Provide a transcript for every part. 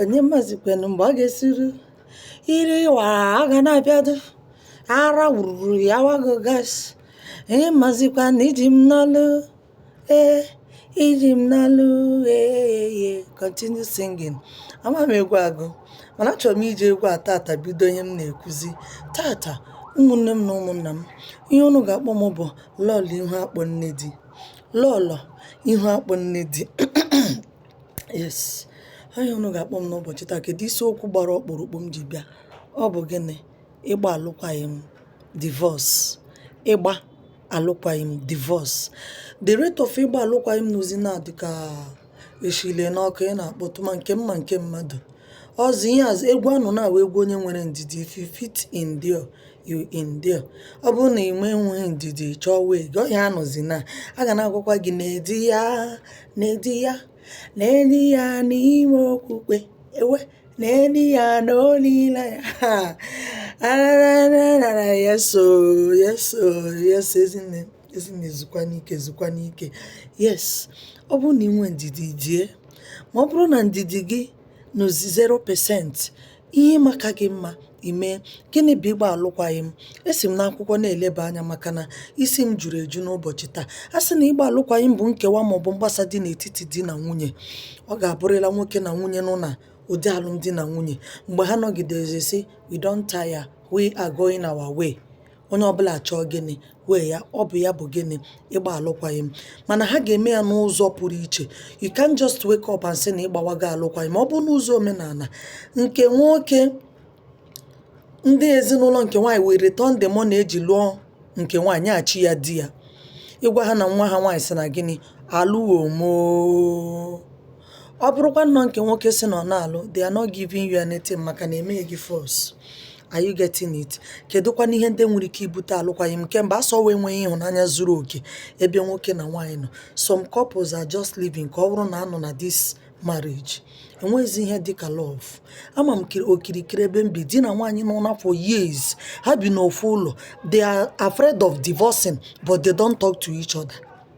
onye mazikwanụ mgbe ọ ga-esuru ire ịwa a ga na-abịado ara wuruwuru ya wago gas onye mazikwa na iji m n'ọlụ ee iji m n'ọlụ ee continue singing ama m egwu agụ mana achọrọ m iji egwu a tata bido ihe m na-ekwuzi tata ụmụnne m na ụmụnna m ihe unu ga-akpọ m bụ lọlọ ihu akpọ nne di lọlọ ihu akpọ nne di Yes, aha unu ga-akpọ m n'ụbọchị taa kedu isiokwu gbara ọkpụrụkpụ m ji bịa ọ bụ gịnị ịgba alụkwaghị m divorce ịgba alụkwaghị m divorce the rate of ịgba alụkwaghị m nọzi na-adị ka eshile n'ọkụ ị na-akpọtụ ma nke mma nke mmadụ ọzọ ihe azụ egwu anụ na-awụ egwu onye nwere ndidi if you fit endure you endure ọ bụrụ na i nweghị ndidi chọọ way gị ọ ya anọzi na a ga na-agwakwa gị na-edi ya na-edi ya na-edi ya n'ime okwukwe wee na-edi ya n'olileanya arararara yeso yeso yes ezinne ezinne zukwa n'ike zukwa n'ike yes ọ bụrụ na ị nwee ndidi die ma ọ bụrụ na ndidi gị nọ 0% Ihe ị ma ka gị mma i mee. Gịnị bụ ịgba alụkwaghịm? Esi m n'akwụkwọ na-eleba anya maka na isi m juru eju n'ụbọchị taa. A sị na ịgba alụkwaghịm bụ nkewa maọbụ mgbasa dị n'etiti di na nwunye. Ọ ga-abụrị na nwoke na nwunye nọ na ụdị alụmdi na nwunye. Mgbe ha nọgidere sị we don tire, we are going our way. onye ọbụla achọọ gịnị way ya ọ bụ ya bụ gịnị ịgba alụkwaghịm mana ha ga-eme ya n'ụzọ pụrụ iche you can't just wake up and say na ịgbawago alụkwaghịm ọ bụrụ n'ụzọ omenala nke nwoke ndị ezinụlọ nke nwaanyị wee return the money eji lụọ nke nwaanyị nyechi ya di ya ịgwa ha na nwa ha nwaanyị sị na gịnị alụghị m oo ọ bụrụkwa nnọọ nke nwoke sị na ọ na-alụ they are not giving you anything maka na emeghị gị force are you getting it kedụkwana ihe ndị nwere ike ibute alụkwaghị m nke mbụ asị ọ wụ enweghị ịhụnanya zuru oke ebe nwoke na nwaanyị nọ some couples are just living ka ọ bụrụ na anọ na this marriage enweghịzi ihe dịka love ama m okirikiri ebe m bi di na nwaanyị nọ na for years ha bi n'ofu ụlọ they are afraid of divorcing but they don't talk to each other.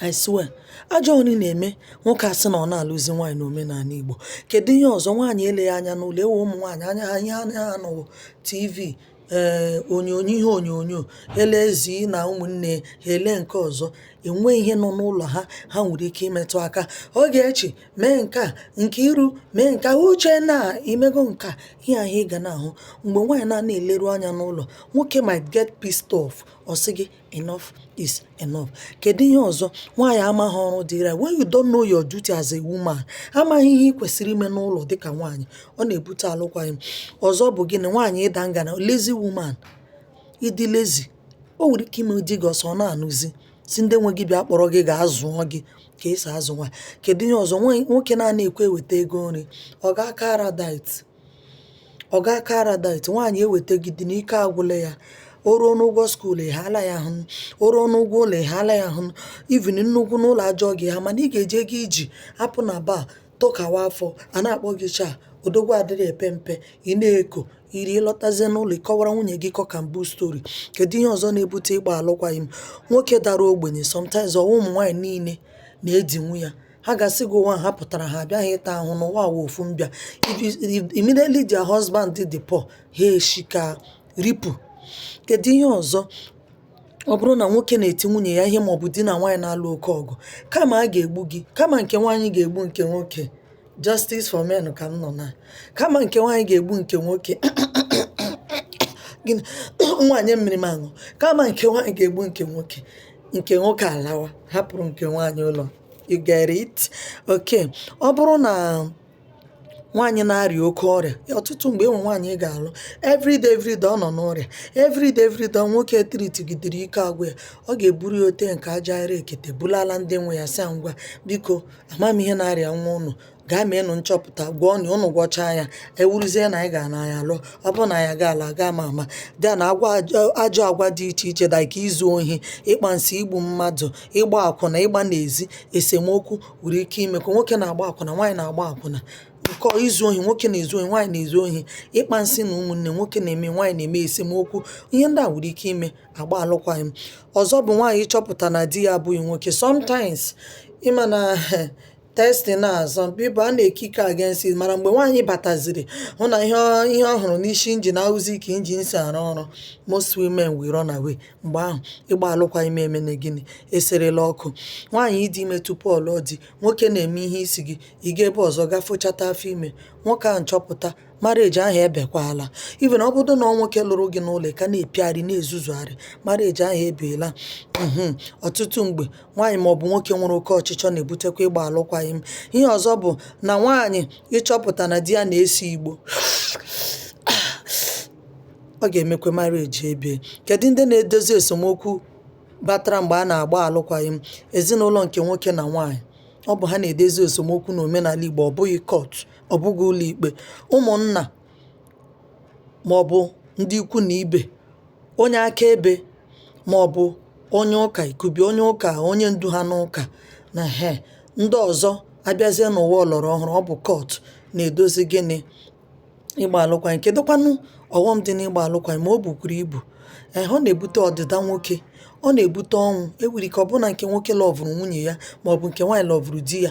I swear ajọ ọrụ ị na-eme nwoke asị na ọ na-alụzi nwaanyị n'omenala Igbo kedu ihe ọzọ nwaanyị eleghị anya n'ụlọ enwe ụmụ nwaanyị anya ha ihe anya ha nọ wụ TV ee onyonyo ihe onyonyo ele ezi na ụmụnne ha ele nke ọzọ enwe ihe nọ n'ụlọ ha ha nwere ike imetụ aka oge echi mee nke a nke iru mee nke a uche na imego nka ihe ahụ ị ga na-ahụ mgbe nwaanyị na-ana eleru anya n'ụlọ nwoke might get pissed off ọ sị gị enough is enough kedu ihe ọzọ nwaanyị amaghị ọrụ dịrị ya when you don't know your duty as a woman amaghị ihe ị kwesịrị ime n'ụlọ dịka nwaanyị ọ na-ebute alụkwaghịm ọzọ bụ gịnị nwaanyị ịda ngana lazy woman ịdị lazy o nwere ike ime di gị asị ọ na-anụzi sị ndị nwe gị bịa kpọrọ gị gaa zụọ gị ka esi azụ nwaanyị kedu ihe ọzọ nwaanyị nwoke na-ana ekwe eweta ego nri ọga aka araldite Ọga aka Araldite, nwaanyị ewetagide na ike agwụla ya. O ruo n'ụgwọ school, ị haala ya ahụ. O ruo n'ụgwọ ụlọ, ị haala ya ahụ. Even nnu gwụ n'ụlọ a jụọ gị ha mana ị ga-eji ego ị ji apụ na bar tụkawa afọ, a na-akpọ gị chaa odogwu adịghị epe mpe, ị na-eko iri ị lọtazie n'ụlọ ị kọwara nwunye gị cock and bull story. Kedu ihe ọzọ na-ebute ịgba alụkwaghịm? Nwoke dara ogbenye sometimes ọ wụ ụmụ nwaanyị niile na-edinwu ya. ha ga-asị gị ụwa ha pụtara ha abịaghị ịta ahụhụ na ụwa wụ ofu mbịa If you- if- immediately their husband dị poor ha eshi ka ripu kedu ihe ọzọ ọ bụrụ na nwoke na-eti nwunye ya ihe maọbụ di na nwaanyị na-alụ oke ọgụ kama a ga-egbu gị kama nke nwaanyị ga-egbu nke nwoke justice for men ka m nọ na kama nke nwaanyị ga-egbu nke nwoke gịnị nwaanyị mmiri m aṅụ kama nke nwaanyị ga-egbu nke nwoke nke nwoke alawa hapụrụ nke nwaanyị ụlọ you get it okay ọ bụrụ na nwaanyị na-arịa oke ọrịa ọtụtụ mgbe e nwee nwaanyị ị ga-alụ everyday everyday ọ nọ n'ọrịa everyday everyday nwoke etritigidere ike agwụ ya ọ ga-eburu ya ote nke aja ire ekete bulala ndị nwe ya sị ha ngwa biko amaghị m ihe na-arịa nwa ụnụ gaa meenụ nchọpụta gwọọnụ ụnụ gwọchaa ya ọ wụrụzie na anyị ga-ana ya lụọ ọ bụrụ na ya ga ala gaa ma ama gaa na agwa ajọ- ajọ agwa dị iche iche dị ka izu ohi ịkpa nsị igbu mmadụ ịgba akwụna ịgba n'ezi esemokwu nwere ike ime ka nwoke na-agba akwụna nwaanyị na-agba akwụna nke izu ohi nwoke na-ezu ohi nwaanyị na-ezu ohi ịkpa nsị na ụmụnne nwoke na-eme nwaanyị na-eme esemokwu ihe ndị a nwere ike ime a gbaa alụkwaghịm ọzọ bụ nwaanyị chọpụta na di ya abụghị nwoke sometimes ị ma na testing na-asọ Bible na-ekiki against it mana mgbe nwaanyị bataziri hụ na ihe ọ- ihe ọ hụrụ n'isi injin awụzi ka injin si arụ ọrụ most women will run away mgbe ahụ ịgba alụkwaghịm emene gịnị eserela ọkụ nwaanyị ịdị ime tupu ọ lụọ di nwoke na-eme ihe isi gị ị gaa ebe ọzọ gafochata afọ ime nwoke ahụ chọpụta marriage ahụ ebiekwala even ọ bụrụ na ọ nwoke lụrụ gị n'ụlọ ị ka na-epiogharị na-ezuzugharị marriage ahụ ebiela mhm ọtụtụ mgbe nwaanyị maọbụ nwoke nwere oke ọchịchọ na-ebutekwa ịgba alụkwaghịm ihe ọzọ bụ na nwaanyị ịchọpụta na di ya na-ese igbo ọ ga-emekwa marriage ebie kedu ndị na-edozi esemokwu batara mgbe a na-agba alụkwaghịm ezinụlọ nke nwoke na nwaanyị ọ bụ ha na-edozi esemokwu n'omenala igbo ọ bụghị court ọ bụghị ụlọikpe ụmụnna maọbụ ndị ikwu na ibe onye akaebe maọbụ onye ụka ikubi onye ụka onye ndu ha n'ụka na ihe ndị ọzọ abịazie n'ụwa ọlọrọ ọhụrụ ọ bụ kọt na-edozi gịnị ịgba alụkwaghịm kedụkwanụ ọghọm dị n'ịgba alụkwaghịm ma o bukwuru ibu ee ọ na-ebute ọdịda nwoke ọ na-ebute ọnwụ enwere ike ọ bụ na nke nwoke lọvụrụ nwunye ya maọbụ nke nwaanyị lọvụrụ di ya